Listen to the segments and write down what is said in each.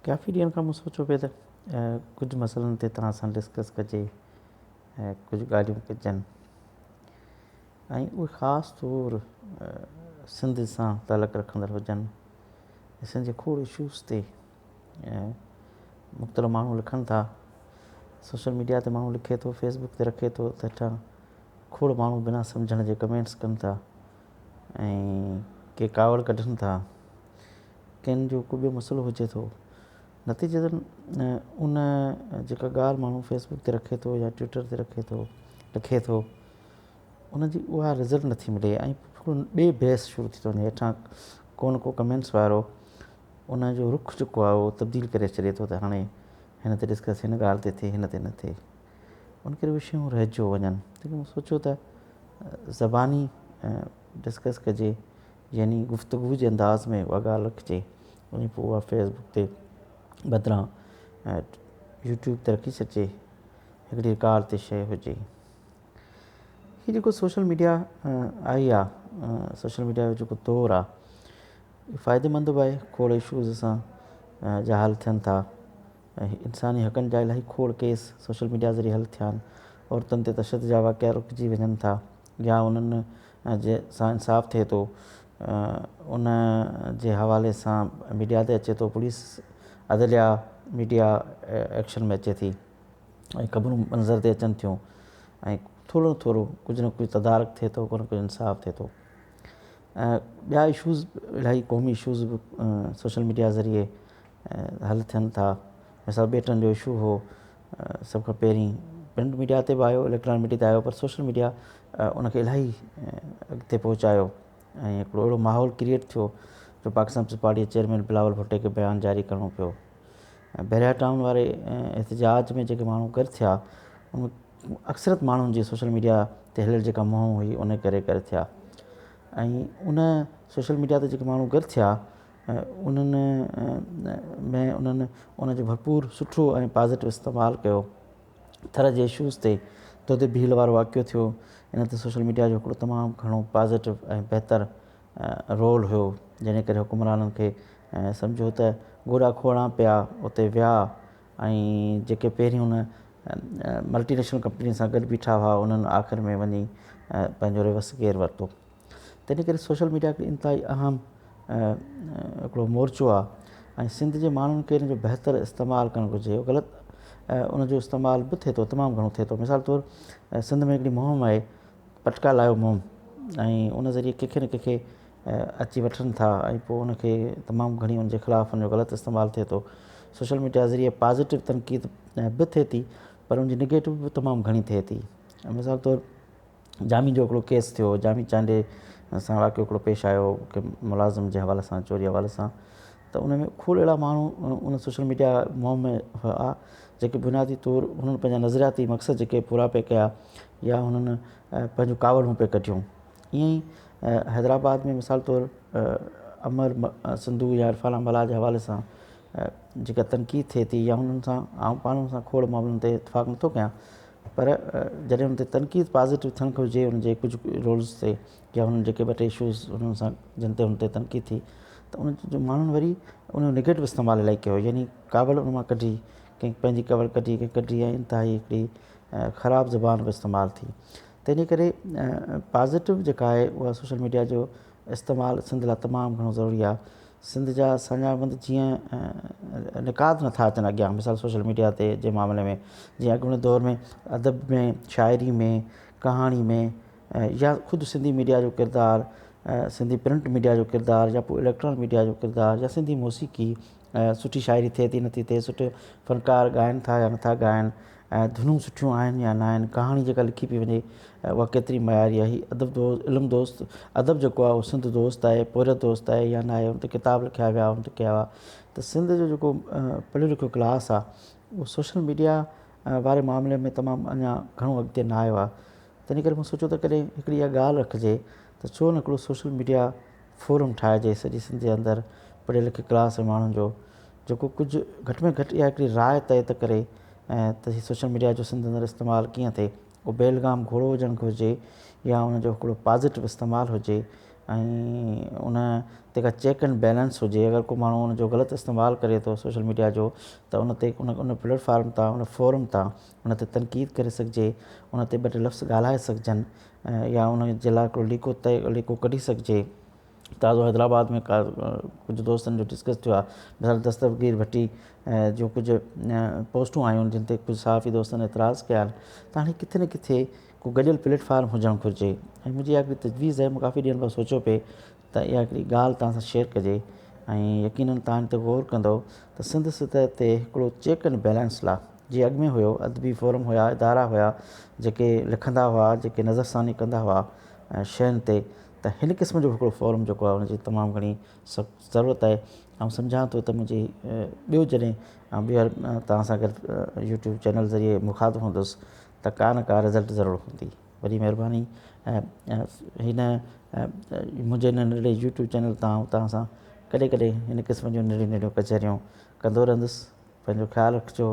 ڪافي ڏينهن کان مون سوچيو پيو ته ڪجهه مسئلن تي توهان سان ڊسڪس ڪجي ۽ ڪجهه ڳالهيون ڪجن ۽ اهي خاص طور سنڌ سان تعلق رکندڙ هجن سنڌ جي کوڙ اشوز تي مختلف ماڻهو لکن ٿا سوشل ميڊيا تي ماڻهو لکي ٿو فيس بڪ تي رکي ٿو ته اچا کوڙ ماڻهو بنا سمجهڻ جي ڪمينٽس ڪن ٿا ۽ ڪي ڪاوڙ ڪڍن ٿا، ڪن جو ڪو ٻيو مسئلو هجي ٿو. نتيجتن ان جيڪا ڳالهه ماڻهو فيس بڪ تي رکي ٿو يا ٽوئيٽر تي رکي ٿو، لکي ٿو، ان جي اها رزلٽ نٿي ملي ۽ پورو ٻي بحث شروع ٿي ٿو وڃي. هيٺان ڪو نه ڪو ڪمينٽس وارو ان جو رخ جيڪو آهي اهو تبديل ڪري ڇڏي ٿو ته هاڻي هن تي ڏسڪس هن ڳالهه تي ٿئي، هن تي نه ٿئي. ان ڪري اهي شيون رهجيو وڃن تڏهن مون سوچيو ته زباني ڊسڪس ڪجي يعني گفتگو جي انداز ۾ اها ڳالهه رکجي ۽ پوء اها فيسبوڪ تي بدران يوٽيوب تي رکي سگهجي هڪڙي رڪارڊ تي شيء هجي هي جيڪو سوشل ميڊيا آئي آ سوشل ميڊيا جو جيڪو دور آ فائدي مند به آهي کوڙ اشوز سان جا حل ٿين ٿا ۽ انساني حقن جا الاهي کوڙ ڪيس سوشل ميڊيا ذريعي حل ٿيان، عورتن تي تشدد جا واقعا رڪجي وڃن ٿا يا انهن سان انصاف ٿئي ٿو ان جي حوالي سان ميڊيا تي اچي ٿو، پوليس، عدليا، ميڊيا ايڪشن ۾ اچي ٿي ۽ خبرون منظر تي اچن ٿيون ۽ ٿورو نه ٿورو ڪجهه نه ڪجهه تدارڪ ٿئي ٿو ڪو نه ڪجهه انصاف ٿئي ٿو ۽ ٻيا اشوز الاهي قومي اشوز به سوشل ميڊيا ذريعي حل ٿين ٿا مثال ٻيٽن جو اشو هو سڀ کان پهرين پرنٽ ميڊيا تي به آيو اليڪٽران ميڊيا تي آيو پر سوشل ميڊيا ان کي الاهي اڳتي پهچايو ۽ هڪڙو اهڙو ماحول ڪريئيٽ ٿيو جو پاڪستان پيپلز پارٽي جي چيئرمين بلاول ڀٽي کي بيان جاري ڪرڻو پيو ۽ بحريا ٽائون واري احتجاج ۾ جيڪي ماڻهو گڏ ٿيا ان ۾ اڪثريت ماڻهن جي سوشل ميڊيا تي هليل جيڪا مهم هئي ان ڪري گڏ ٿيا ۽ ان سوشل ميڊيا تي جيڪي ماڻهو گڏ ٿيا انهن ۾ انهن ان جو ڀرپور سٺو ۽ پازيٽو استعمال ڪيو ٿر جي اشوز تي دودي ڀيل وارو واقعو ٿيو ان تي سوشل ميڊيا جو هڪڙو تمام گهڻو پازيٽو ۽ بهتر رول هيو جنهن ڪري حڪمرانن کي سمجهيو ته گوڏا کوڙان پيا اتي ويا ۽ جيڪي پهرين ان ملٽي نيشنل ڪمپنين سان گڏ بيٺا هئا انهن آخر ۾ وڃي پنهنجو ريورس گيئر ورتو تنهن ڪري سوشل ميڊيا هڪڙي انتهائي اهم هڪڙو مورچو آهي ۽ سنڌ جي ماڻهن کي ان جو بهتر استعمال ڪرڻ گهرجي غلط ان جو استعمال به ٿئي ٿو تمام گهڻو ٿئي ٿو مثال طور سنڌ ۾ هڪڙي مهم آهي پٽڪا لايو مهم ۽ ان ذريعي ڪنهن کي نه ڪنهن کي اچي وٺن ٿا ۽ پوء ان کي تمام گهڻي ان جي خلاف ان جو غلط استعمال ٿئي ٿو سوشل ميڊيا ذريعي پازيٽو تنقيد به ٿئي ٿي پر ان جي نيگيٽو به تمام گهڻي ٿئي ٿي مثال طور جامي جو هڪڙو ڪيس ٿيو جامي چانڊيي سان واقعو هڪڙو پيش آيو ڪي ملازم جي حوالي سان چوري حوالي سان ته ان ۾ کوڙ اهڙا ماڻهو ان سوشل ميڊيا مهم ۾ هئا جيڪي بنيادي طور انهن پنهنجا نظرياتي مقصد جيڪي پورا پي ڪيا يا هنن پنهنجون ڪاوڙون پي ڪڍيون ائين ئي حيدرآباد ۾ مثال طور امر سنڌو يا عرفان امبالا جي حوالي سان جيڪا تنقيد ٿئي ٿي يا انهن سان آئون پاڻ سان کوڙ معاملن تي اتفاق نٿو ڪيان پر جڏهن ان تي تنقيد پازيٽو ٿيڻ گهرجي ان جي ڪجهه رولز تي يا انهن جيڪي ٻه ٽي اشوز انهن سان جن تي ان تي تنقيد ٿي ته ان جو ماڻهن وري ان جو نيگيٽو استعمال الائي ڪيو يعني ڪاوڙ ان مان ڪڍي ڪنهن پنهنجي ڪاوڙ ڪڍي ڪنهن ڪڍي ۽ انتهائي هڪڙي خراب زبان به استعمال ٿي تنهنجي ڪري پازيٽو جيڪا آهي اها سوشل ميڊيا جو استعمال سنڌ لاء تمام گهڻو ضروري آهي سنڌ جا سڃاڻبند جيئن نقاد نه ٿا اچن اڳيان مثال سوشل ميڊيا تي جي معاملي ۾ جيئن اڳوڻي دور ۾ ادب ۾ شاعري ۾ ڪهاڻي ۾ يا خود سنڌي ميڊيا جو ڪردار سنڌي پرنٽ ميڊيا جو ڪردار يا پوء اليڪٽرانڪ ميڊيا جو ڪردار يا سنڌي موسيقي سٺي شاعري ٿئي ٿي نٿي ٿئي سٺو فنڪار ڳائن ٿا يا نٿا ڳائن ۽ ڌنون سٺيون آهن يا ناهن، ڪهاڻي جيڪا لکي پئي وڃي اها ڪيتري معياري آهي، ادب دوست، علم دوست، ادب جيڪو آهي اهو سنڌ دوست آهي، پورهيت دوست آهي يا ناهي، ان تي ڪتاب لکيا ويا، ان تي ڪيا ويا ته سنڌ جو جيڪو پڙهيو لکيو ڪلاس آهي اهو سوشل ميڊيا واري معاملي ۾ تمام اڃا گهڻو اڳتي نه آيو آهي تنهن ڪري مون سوچيو ته ڪڏهن هڪڙي اها ڳالهه رکجي ته ڇو نه هڪڙو سوشل ميڊيا فورم ٺاهجي سڄي سنڌ جي اندر پڙهيل لکيل ڪلاس جي ماڻهن جو جيڪو ڪجهه گهٽ ۾ گهٽ اها هڪڙي راء طئي ته ڪري ته هي سوشل ميڊيا جو سنڌ اندر استعمال ڪيئن ٿئي. اهو بيلگام گهوڙو هجڻ گهرجي يا ان جو هڪڙو پازيٽو استعمال هجي ۽ ان تي ڪا چيڪ اينڊ بيلنس هجي اگر ڪو ماڻهو ان جو غلط استعمال ڪري ٿو سوشل ميڊيا جو ته ان تي ان ان پليٽ فارم تان ان فورم تان ان تي تنقيد ڪري سگهجي ان تي ٻه ٽي لفظ ڳالهائي سگهجن يا ان جي لاء هڪڙو ليڪو طئي ليڪو ڪڍي سگهجي. تازو حيدرآباد ۾ ڪجهه دوستن جو ڊسڪس ٿيو آهي ڀيل دستگير ڀٽي جون ڪجهه پوسٽون آيون آهن جن تي ڪجهه صحافي دوستن اعتراض ڪيا آهن ته هاڻي ڪٿي نه ڪٿي ڪو گڏيل پليٽ فارم هجڻ گهرجي ۽ منهنجي اها هڪڙي تجويز آهي مون ڪافي ڏينهن کان سوچيو پئي ته اها هڪڙي ڳالهه توهان سان شيئر ڪجي ۽ يقينن توهان ان تي غور ڪندو ته سنڌ سطح تي هڪڙو چيڪ اينڊ بيلنس لا جي اڳ ۾ هيو ادبي فورم هيا ادارا هيا جيڪي لکندا هئا جيڪي نظرثاني ڪندا هئا شين تي ته هن قسم جو هڪڙو فورم جيڪو آهي ان جي تمام گهڻي سخت ضرورت آهي آئون سمجهان ٿو ته منهنجي ٻيو جڏهن آئون ٻيهر توهان سان گڏ يوٽيوب چينل ذريعي مخاطب هوندس ته ڪا نه ڪا رزلٽ ضرور هوندي وڏي مهرباني هن منهنجي هن ننڍڙي يوٽيوب چينل تان آئون توهان سان ڪڏهن ڪڏهن هن قسم جون ننڍيون ننڍيون ڪچهريون ڪندو رهندس پنهنجو خيال رکجو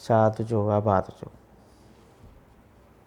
شاد هجو آباد هجو